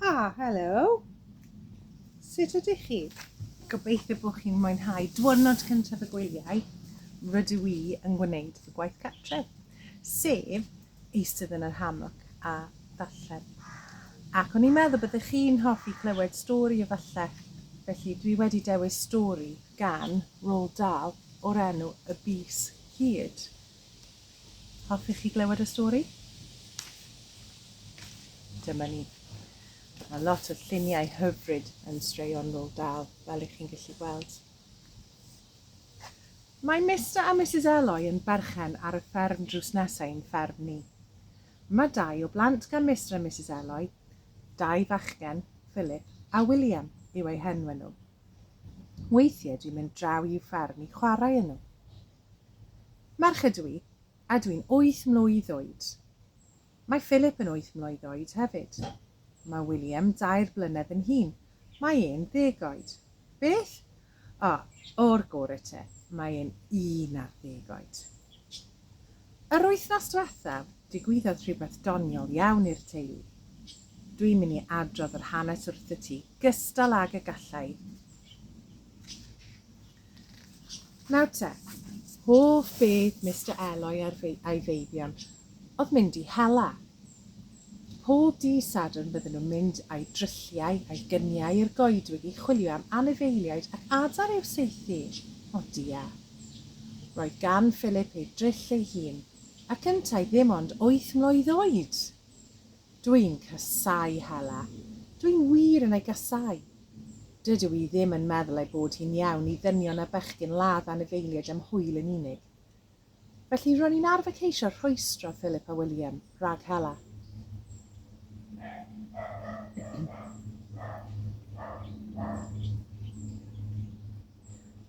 Ah, hello. Sut ydych chi? Gobeithio bod chi'n mwynhau diwrnod cyntaf y gwyliau rydw i yn gwneud fy gwaith cartref, sef eistedd yn yr hammock a darllen. Ac o'n i'n meddwl byddech chi'n hoffi clywed stori efallai, felly dwi wedi dewis stori gan Roald Dahl o'r enw Y Bys Hud. Hoffech chi glywed y stori? Dyma ni. Mae lot o lluniau hyfryd yn straeon Roald Dahl, fel ych chi'n gallu gweld. Mae Mister a Mrs Eloy yn berchen ar y fferm drws nesaf i'n fferm ni. Mae dau o blant gan Mister a Mrs Eloy, dau fachgen, Philip a William yw eu henwau nhw. Weithiau dwi'n mynd draw i'w ffarm i chwarae yn nhw. Merch ydw i, a dwi'n wyth mlwydd oed. Mae Philip yn wyth mlwydd oed hefyd. Mae William dair blynedd yn hŷn, mae e'n ddeg oed. Beth? O, o'r gore te, mae e'n un ar ddeg oed. Yr wythnos dwethaf, digwyddodd rhywbeth doniol iawn i'r teulu. Dwi'n mynd i adrodd yr hanes wrthyt ti, gystal ag y gallai. Nawr te, hoff beth Mister Eloi ar ei feibion oedd mynd i hela. Pob dydd Sadwrn bydden nhw'n mynd â'u drylliau a'i gyniau i'r goedwig i chwilio am anifeiliaid ac adar i'w saethu. O dia! Roedd gan Philip ei dryll ei hun, ac yntau ddim ond wyth mlwydd oed! Dw i'n casáu Hela. Dw i'n wir yn ei gasáu. Dydw i ddim yn meddwl ei bod hi'n iawn i ddynion a bechgyn ladd anifeiliaid am hwyl yn unig. Felly, ro'n i'n arfer ceisio rhwystro Philip a William rhag hela.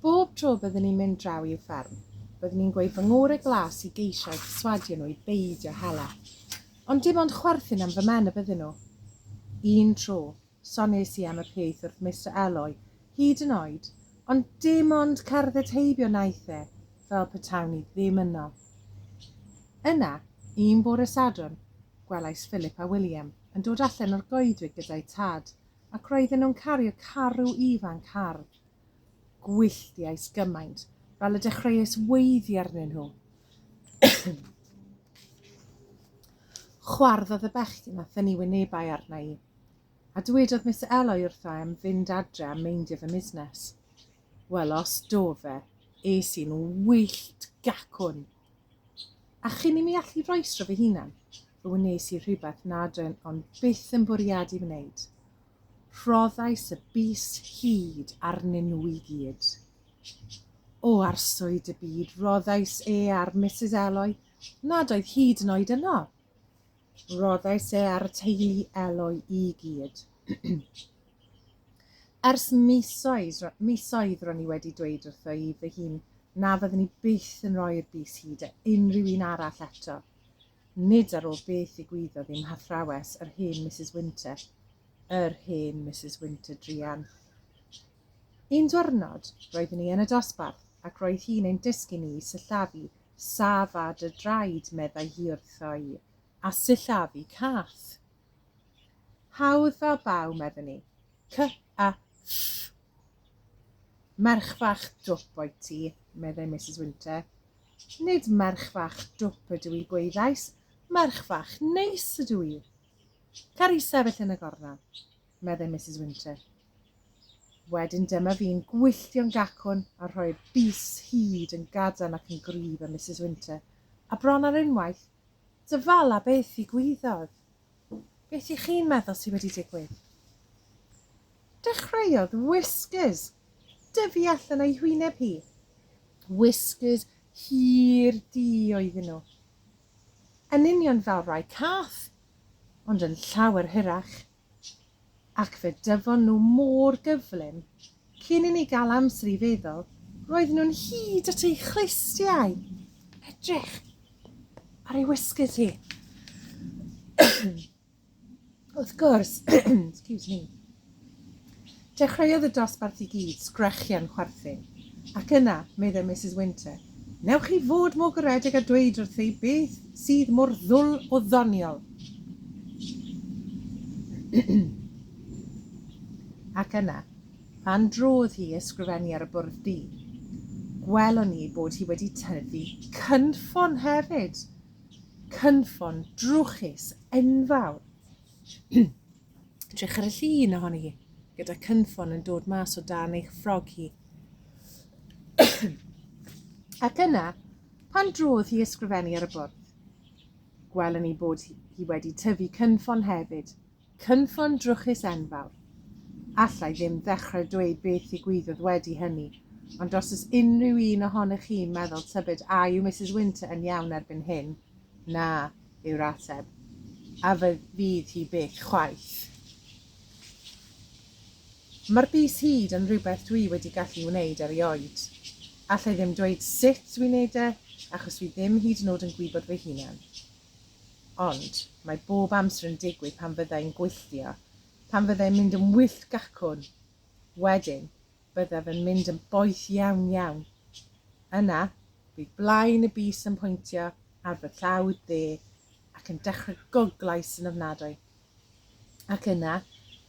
Bob tro byddwn ni'n mynd draw i'w fferm, byddwn ni'n gweud fy ngore glas i geisio eu perswadio nhw i beidio hela. Ond dim ond chwerthin am fy mhen y byddyn nhw. Un tro, Soniais i am y peth wrth Mister Eloi, hyd yn oed, ond dim ond cerdded heibio wnaeth e, fel petawn i ddim yno. Yna, un bore Sadwrn, gwelais Philip a William yn dod allan o'r goedwig gyda'u tad, ac roedden nhw'n cario carw ifanc hardd. Gwylltiais gymaint, fel y dechreuais weiddi arnyn nhw. Chwarddodd y bechgyn a thynnu wynebau arna i. A dwedodd Miss Eloy wrtha em fynd adre a meindio fy musnes. Wel, os do fe, es i'n wyllt gacwn! A chyn i mi allu roesro fy hunan, fe wnes i rhywbeth nad o'n ond byth yn bwriadu wneud. Rhoddais y bys hud arnyn nhw i gyd. O arswyd y byd, rhoddais e ar Misus Eloy nad oedd hyd yn oed yno! Rhoddais e ar y teulu Eloi i gyd. Ers misoedd, misoedd ro'n i wedi dweud wrtho i fy hun na fyddwn i byth yn rhoi'r bys hyd a unrhyw un arall eto. Nid ar ôl beth ddigwyddodd i'm hathrawes, yr hen Mrs Winter. Yr hen Mrs Winter drian. Un diwrnod, roeddwn i yn y dosbarth ac roedd hi'n ein dysgu ni i sillafu Saf â dy draed, meddai hi wrtho-i, a sillafu cath. Hawdd fel baw, meddwn i. Cy-a-ll! Merch fach dwp oet ti, meddai Misus Winter. Nid merch fach dwp ydw i, gwaeddais, merch fach neis ydw i. Cer i sefyll yn y gornel. meddai Misus Winter. Wedyn dyma fi'n gwylltio'n gacwn a rhoi'r bys hyd yn gadarn ac yn gryf â Misus Winter, a bron ar unwaith, Dyfala beth ddigwyddodd! Beth i chi'n meddwl sydd wedi digwydd? Dechreuodd Whiskers dyfu allan o'i hwyneb hi. Whiskers hir di oedden nhw. Yn union fel rai cath, ond yn llawer hirach. ac fe dyfon nhw mor gyflym, cyn i ni gael amser i feddwl, roedden nhw'n hyd at eu chlustiau! Edrych ar ei wysgys hi. Wrth gwrs, excuse me, Dechreuodd y dosbarth i gyd sgrechian chwerthin, ac yna, meddai Misus Winter, Wnewch chi fod mor garedig a dweud wrtha i beth sydd mor ddwl o ddoniol? Ac yna, pan drodd hi i ysgrifennu ar y bwrdd du, gwelwn ni ei bod hi wedi tyfu cynffon hefyd! Cynffon drwchus enfawr! Edrych ar y llun ohoni hi, gyda cynffon yn dod mas o dan eich ffrog hi. Ac yna, pan drodd hi ysgrifennu ar y bwrdd, gwelwn ni bod hi wedi tyfu cynffon hefyd, cynffon drwchus enfawr. Allai ddim ddechrau dweud beth ddigwyddodd wedi hynny, ond os ys unrhyw un ohonych chi'n meddwl tybed a yw Mrs Winter yn iawn erbyn hyn, na, yw'r ateb, a fe fydd hi byth chwaith. Mae'r bys hyd yn rhywbeth dwi wedi gallu wneud erioed. Alla i ddim dweud sut dwi'n neud e, achos dwi ddim hyd yn od yn gwybod fy hunan. Ond, mae bob amser yn digwydd pan fydda i'n gwylltio, pan fydda i'n mynd yn wyllt gacwn. Wedyn, byddaf yn mynd yn boeth iawn iawn. Yna, bydd blaen y bys yn pwyntio ar fy llawd dde ac yn dechrau goglais yn ofnadwy. Ac yna,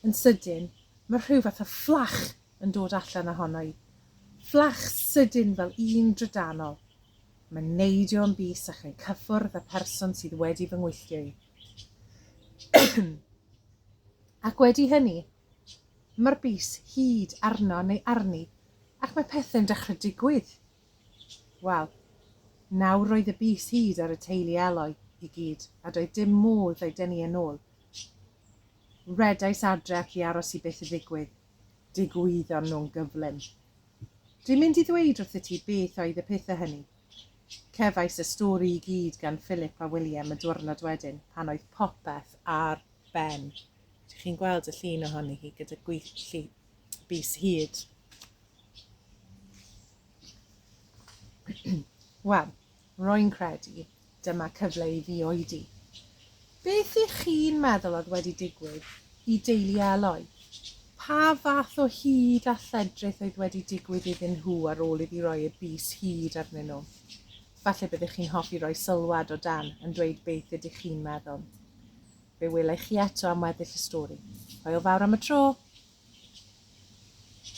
yn sydyn, mae rhyw fath o fflach yn dod allan ohono i. Fflach sydyn fel un drydanol. Mae'n neidio yn bys ac yn cyffwrdd â person sydd wedi fy ngwylltio i. ac wedi hynny, Mae'r bys hyd arno neu arni ac mae pethe'n dechrau digwydd. Wel, nawr roedd y bys hyd ar y teulu Eloi i gyd a doedd dim modd eu denu yn ôl. Redais adref i aros i beth ddigwydd. Digwyddon nhw'n gyflym. Dwi'n mynd i ddweud wrthyt ti beth oedd y pethe hynny. Cefais y stori i gyd gan Philip a William y diwrnod wedyn pan oedd popeth ar ben. Dych chi'n gweld y llun ohoni hi gyda gweithlu bus hyd. Wel, roi'n credu dyma cyfle i fi oedi. Beth ych chi'n meddwl oedd wedi digwydd i deulu Eloi? Pa fath o hyd a lledrith oedd wedi digwydd iddyn nhw ar ôl iddi roi y bus hyd arnyn nhw? Falle byddwch chi'n hoffi roi sylwad o dan yn dweud beth ydych chi'n meddwl. Fe wela i chi eto am weddill y stori. Hwyl fawr am y tro!